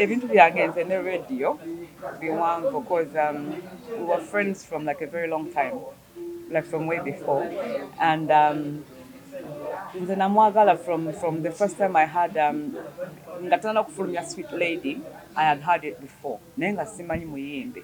ebintu byange nze ne radio biwanvu cause um, we were friends from like a very long time like from way before and um, nze namwagala from from the first time i had um, nga tanana kufulumya sweet lady i had had it before naye nga simanyi muyimbi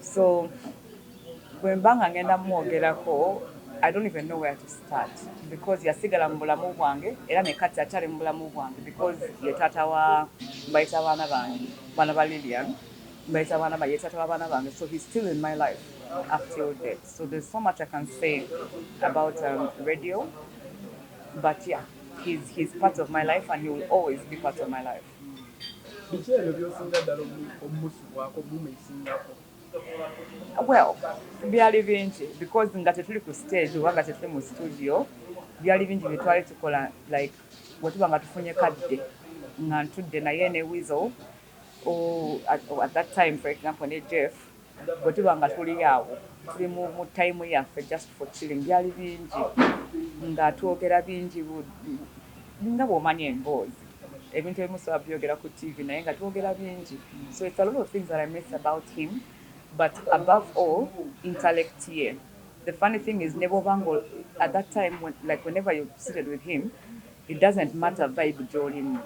So bwemba nga ngenda mwogerako I don't even know where to start because yasigala mubulamu bwange era nekati akyali mubulamu bwange because ye taata wa mbayita baana bange baana ba Lillian mbayita baana ba ye taata wa baana bange so he's still in my life up till date so there's so much I can say about um, radio but yeah he's, he's part of my life and he will always be part of my life Biki ebyo by'osinga ddala omusubwako, omuuma esingako? Well, byali bingi because nga tetuli ku stage oba nga tetuli mu studio, byali bingi bye twali tukola like bwe tuba nga tufunye kadde nga ntudde naye ne Weasel or at that time for example ne Jeff. Bwe tuba nga tuli awo, tuli mu, mu ttayimu yaffe, just for chilling, byali bingi, nga twogera bingi bu, bu, nga bw'omanyi emboozi, ebintu ebimu sisobola byogera ku TV, naye nga twogera bingi. So it's a lot of things that I miss about him, but above all, intellect ye. The funny thing is, ne bw'oba nga, at that time, like whenever you're seated with him, It doesn't matter vibe gyolimu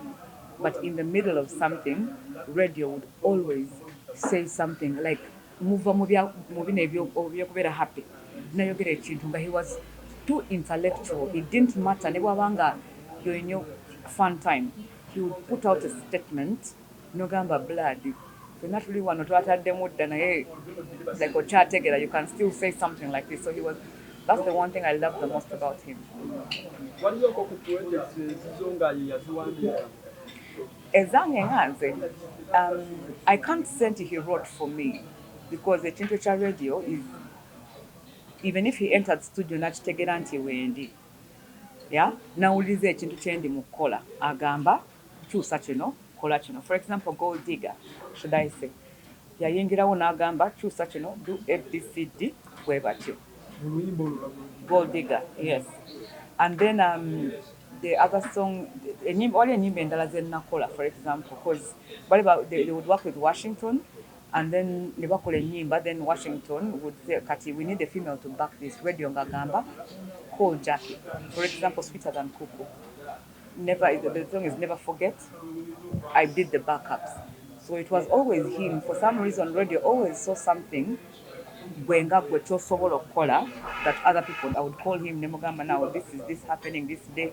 but in the middle of something radio would always say something like muva mubino ebyokubera happy nayogera ekintu nga he was too intellectual it didn't matter nebwaba nga yolinyo fun time he would put out a statement Nogamba blood fena tuli wano twatademu dda naye like okyategera you can still say something like this so he was that's the one thing I love the most about him. Waliyo ko ku projects ezizo nga ye yaziwandiika ezange nga nze um, I can't say nti he wrote for me because ekintu ekya radio is even if he entered studio nakitegeera nti wendi yeah nawuliriza ekintu kyendi mu kukola agamba kyusa kino kola kino for example gold digger should I say yayingirawo nagamba kyusa kino do abcd bwebatyo gold digger yes and then um, the other song enyimba wali enyimba endala zenakola for example cause bali they, they would work with Washington and then nebakola enyimba then Washington would say kati we need a female to back this radio ngagamba call Jackie for example sweeter than kuku never the song is never forget I did the backups so it was always him for some reason radio always saw something gwe nga gwe kyosobola okukola that other people I would call him nemugamba now this is this happening this day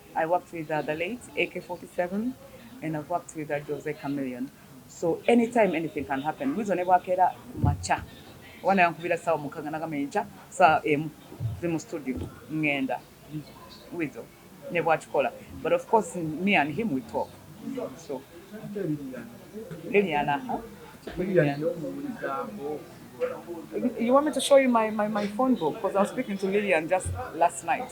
I worked with uh, the late AK47 and I've worked with uh, Jose Chameleon. So anytime anything can happen. Mwizo ne bwakera macha. Wana yankubira sawa mukanga nagamba encha saa emu ze mu studio ngenda. Mwizo ne bwakikola. But of course me and him we talk. So Liliana, huh? Liliana. You want me to show you my, my, my phone book? Because I was speaking to Lillian just last night.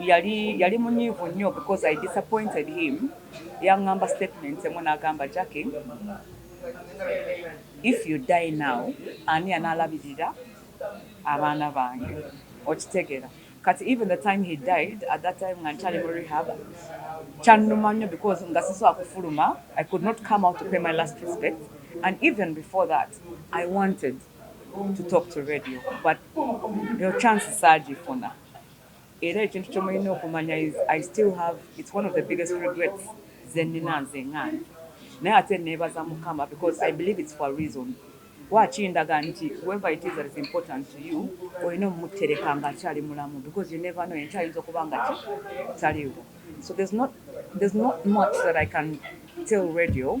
yali yali munyiivu nnyo because I disappointed him yangamba statement emu nagamba Jackie if you die now ani analabirira abaana bange okitegera kati even the time he died at that time nga nkyali mu rehab kyannuma nnyo because nga sisobola kufuluma I could not come out to pay my last respect and even before that I wanted to talk to radio but eyo chance saagifuna era ekintu kye mulina okumanya is i still have it's one of the biggest regrets ze nnina nze ng'ange naye ate neebaza mukama because i believe it's for a reason lwaki ndaga nti whoever it is that is important to you olina omumutereka ng'akyali mulamu because you never know enkyo ayinza okuba nga ki taliwo so there's not, there's not much that i can tell radio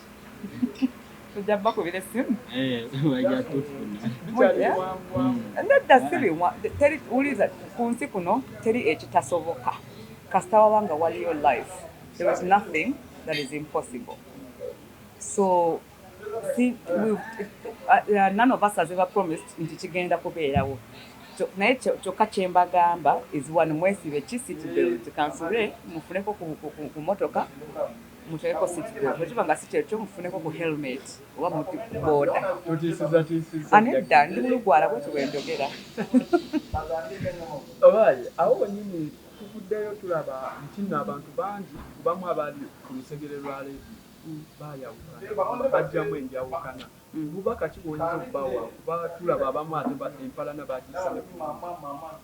tujja bakubira essimu eh, nedda si biwa wuliriza ku nsi kuno teri ekitasoboka kasita waba nga waliyo life there is nothing that is impossible so si, we, uh, uh, none of us has ever promised nti kigenda kubeerawo naye kyokka kyembagamba is one mwesibe kisitbelt kansule mufuneko ku motoka Muteeko seat belt bwe kiba nga si kyekyo mufuneko ku helmet oba mu booda. Totiisizatiisiza. Anedda ndi mulugwala bwetyo bwe njogera. Obaye awo wenyini tuvuddeyo tulaba nti nno abantu bangi ku bamu abaali ku lusegere lwa leediyo baayawukana nga baggyamu enjawukana. Bubaka ki bw'oyinza okubawa kuba tulaba abamu ate empalana baagissa ne ku mimwa.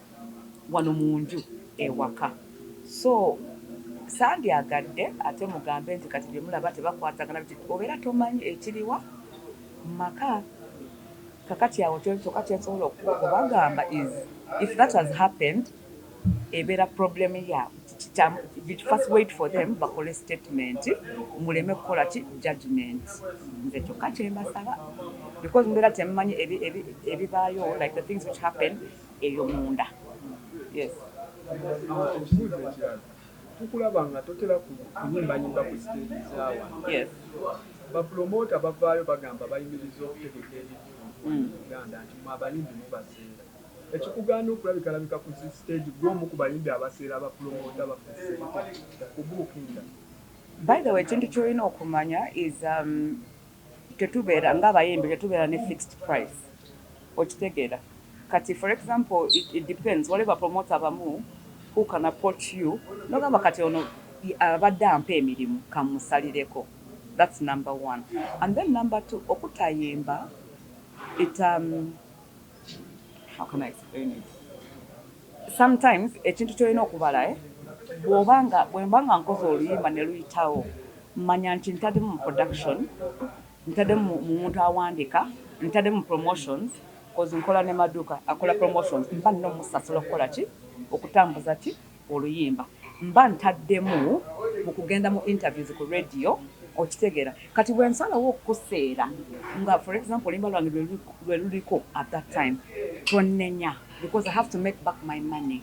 wano munju ewaka so sandyagadde ate mugambe nti kati byemulaba tebakwatagana biki obera tomanyi ekiriwa mumaka kakati awo kyoka kyensobola okubagamba is if that has happened ebera problem yabwe first wait for them bakole statement muleme kukola ki judgment nze kyokka kyembasaba because mbeera temmanyi ebibaayo like the things which happen eyo munda yes. Ekibuuzo ekirala tukulaba nga totera kunyimbayimba ku siteegi za wano, bapulomoota bavaayo bagamba bayimirizza okutegeka ebivvulu mu Buganda nti mmwe abayimbi mubaseera. Ekikugaana okulabikalabika ku zi siteegi ggwe omu ku bayimbi abaseera abapulomoota baffe ssente okubuukinga? By the way ekintu ky'olina okumanya is um, Tetubeera nga abayimbi tetubeera ne fixed price okitegeera kati for example it depends waliwo ba promoter abamu who can approach you nogamba kati ono abadde ampa emirimu kamusalireko that's number one and then number two okutayimba it umm. sometimes ekintu kyolina okubala eh? bwoba nga bwemba nga nkoze oluyimba ne luyitawo manya nti ntademu mu production ntademu mu muntu awandika ntademu mu promotions kozi nkola ne maduuka akola promotions mba nina omusasula okukola ki okutambuza ki oluyimba mba ntaddemu mu kugenda mu interviews ku radio okitegeera kati bwensalawo okukuseera nga for example oluyimba lwange lwe luliko at that time tonnenya because I have to make back my money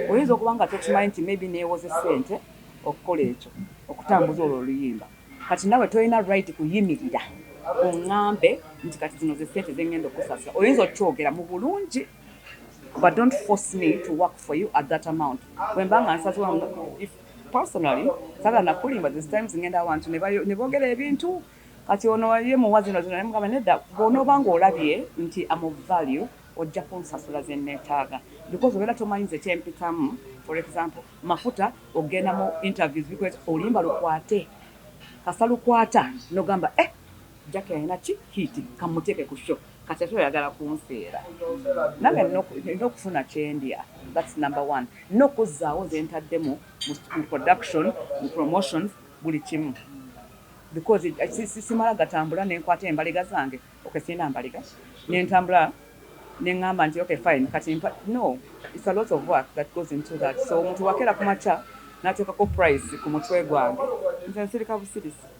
oyinza okuba nga tokimanyi nti maybe neewoze ssente okukola ekyo okutambuza olwo oluyimba kati nawe tolina right kuyimirira oŋŋambe nti kati zino ze ssente ze ŋŋenda okukusasira oyinza okyogera mu bulungi but don't force me to work for you at that amount bwemba nga nsazewo if personally sagala nakulimba this times ngenda awantu nebogera ebintu kati ono ye muwa zino zino nemugamba nedda bwonoba nga olabye nti am of value ojja kunsasula zenetaaga because obeera tomanyi nze kyempitamu for example mafuta ogenda mu interviews because olimba lukwate kasa lukwata nogamba eh jaki alina ki hiti kamuteeke ku show Kati ate oyagala kunfeera nange nina okufuna kyendya that's number one nina okuzzaawo zentaddemu mu production mu promotions buli kimu because simala gatambula nenkwata embaliga zange okay sirina mbaliga nentambula nengamba nti okay fine kati no it's a lot of work that goes into that so omuntu wakeera kumakya nateekako price ku mutwe gwange nze nsirika busirisi